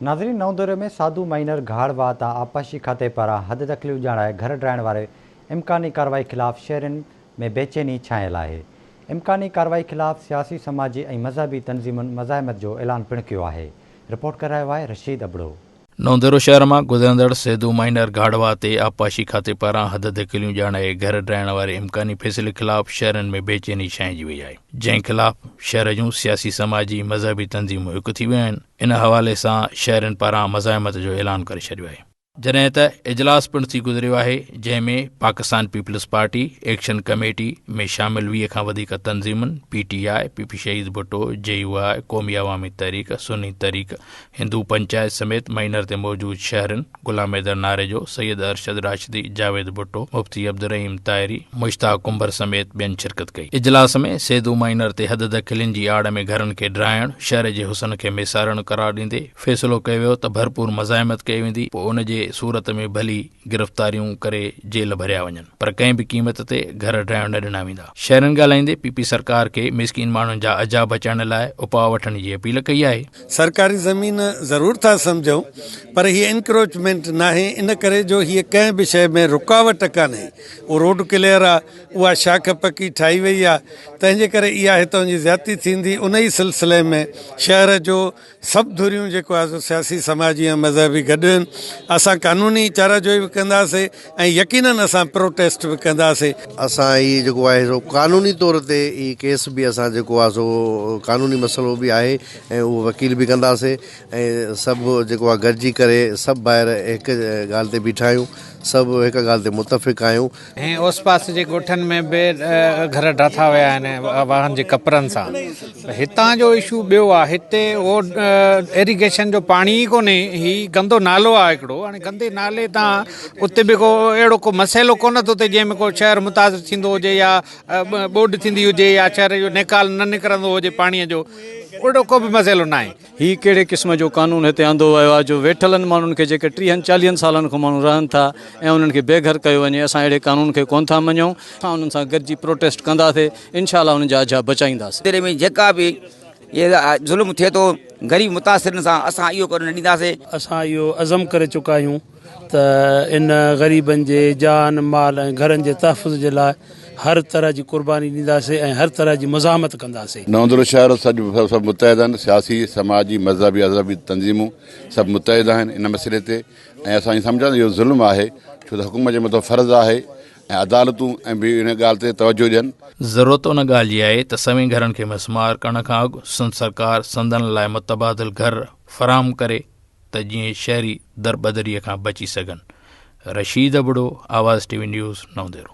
ناظرين نئون دوري ۾ ساڌو مائينر گهاڙ واهه تان آبپاشي کاتي پاران حد دخليون ڄاڻائي گهر ڊاهڻ واري امڪاني ڪارروائي خلاف شهرين ۾ بيچيني ڇانيل آهي امڪاني ڪارروائي خلاف سياسي سماجي ۽ مذهبي تنظيمن مزاحمت جو اعلان پڻ ڪيو آهي رپورٽ ڪري رهيو آهي رشيد ابڙو. نئون دورو شهر مان گذرندڙ سيڌو مائينر گهاڙ واهه تي آبپاشي کاتي پاران حد دخليون ڄاڻائي گهر ڊاهڻ واري امڪاني فيصلي خلاف شهرين ۾ بيچيني ڇانئجي وئي آهي جنهن خلاف شهر جون سياسي سماجي مذهبي تنظيمون هڪ ٿي ويون آهن ان حوالي سان شهرين پاران مزاحمت جو اعلان ڪري ڇڏيو آهي. جڏهن ته اجلاس پڻ ٿي گذريو آهي جنهن ۾ Pakistan peoples party action committee ۾ شامل ويهه کان وڌيڪ تنظيمن، P T I, P P Shaheed Bhutto, جي يو آء، قومي عوامي تحريڪ، سني تحريڪ، هندو پنچائت سميت مئنر تي موجود شهرين، غلام حيدر ناريجو، سيد ارشد راشدي، جاويد ڀٽو، مفتي عبدالرحيم طاهري، مشتاق ڪنڀر سميت ٻين شرڪت ڪئي. اجلاس ۾ سيدو مائينر تي حد دخلين جي آڙ ۾ گهرن کي ڊاهڻ شهر جي حسن کي ميسارڻ قرار ڏيندي فيصلو ڪيو ويو ته ڀرپور مزاحمت ڪئي ويندي پوء ان جي صورت ۾ ڀلي گرفتاريون ڪري جيل ڀريا وڃن پر ڪنهن به قيمت تي گهر ڊاهڻ نه ڏنا ويندا. شهرين ڳالهائيندي پي پي سرڪار کي مسڪين ماڻهن جا عذاب هچائڻ لاء اپاء وٺڻ جي اپيل ڪئي آهي. سرڪاري زمين ضرور ٿا سمجهون پر هي انڪروچمينٽ ناهي ان ڪري جو هي ڪنهن به شيء ۾ رڪاوٽ ڪانهي اهو روڊ ڪليئر آ اها شاخ پڪي ٺاهي وئي آ تنهنجي ڪري اها هتان جي زيادتي ٿيندي ان ئي سلسلي ۾ شهر جو سڀ ڌريون جيڪو آ سو سياسي سماجي ۽ مذهبي گڏ آهن اسان قانوني چاره جوئي به ڪنداسي ۽ يقينن اسان پروٽيسٽ به ڪنداسي. اسان هي جيڪو آهي سو قانوني طور تي هي ڪيس به اسان جيڪو آ سو قانوني مسئلو به آهي ۽ اهو وڪيل به ڪنداسي ۽ سڀ جيڪو آ گڏجي ڪري سڀ ڀائر هڪ ڳالهه تي بيٺا آهيون سڀ هڪ ڳالهه تي متفق آهيون. ۽ اوس پاس جي ڳوٺن ۾ به گهر ڊاٿا ويا آهن واهن جي ڪپرن سان ته هتان جو اشو ٻيو آ هتي اهو ايريگيشن جو پاڻي ئي ڪونهي هي گندو نالو آ هڪڙو هاڻي گندي نالي تان اتي به ڪو اهڙو ڪو مسئلو ڪونه ٿو ٿئي جنهن ۾ ڪو شهر متاثر ٿيندو هجي يا ٻوڏ ٿيندي هجي يا شهر جو نيڪال نه نڪرندو هجي پاڻيء جو اهڙو ڪو به مسئلو ناهي. هي ڪهڙي قسم جو قانون هتي آندو ويو آهي جو ويٺلن ماڻهن کي جيڪي ٽيهن چاليهن سالن کان ماڻهو رهن ٿا ۽ انهن کي بي گهر ڪيو وڃي اسان اهڙي قانون کي ڪونه ٿا مڃون. اسان انهن سان گڏجي پروٽيسٽ ڪنداسي انشاء الله انهن جا اجها بچائينداسي. ضلعي ۾ جيڪا به ظلم ٿئي ٿو غريب متاثرين سان اسان اهو ڪرڻ نه ڏينداسي. اسان اهو عزم ڪري چڪا آهيون. ته ان غريبن جي جان، مال ۽ گهرن جي تحفظ جي لاء هر طرح جي قرباني ڏينداسين ۽ هر طرح جي مزاحمت ڪنداسين. نوندرو شهر سڄ سڀ متحد آهن، سياسي، سماجي، مذهبي، اذهبي تنظيمون سڀ متحد آهن ان مسئلي تي ۽ اسان ائين سمجهون ٿا ته اهو ظلم آهي ڇو ته حڪومت جي مٿان فرض آهي ۽ عدالتون ۽ به ان ڳالهه تي توجهه ڏين. ضرورت ان ڳالهه جي آهي ته سوين گهرن کي مسمار ڪرڻ کان اڳ سنڌ سرڪار سندن لاء متبادل گهر فراهم ڪري ته جيئن شهري دربدري کان بچي سگهن. Rashid Abro, Awaz T V news, نئون ديرو.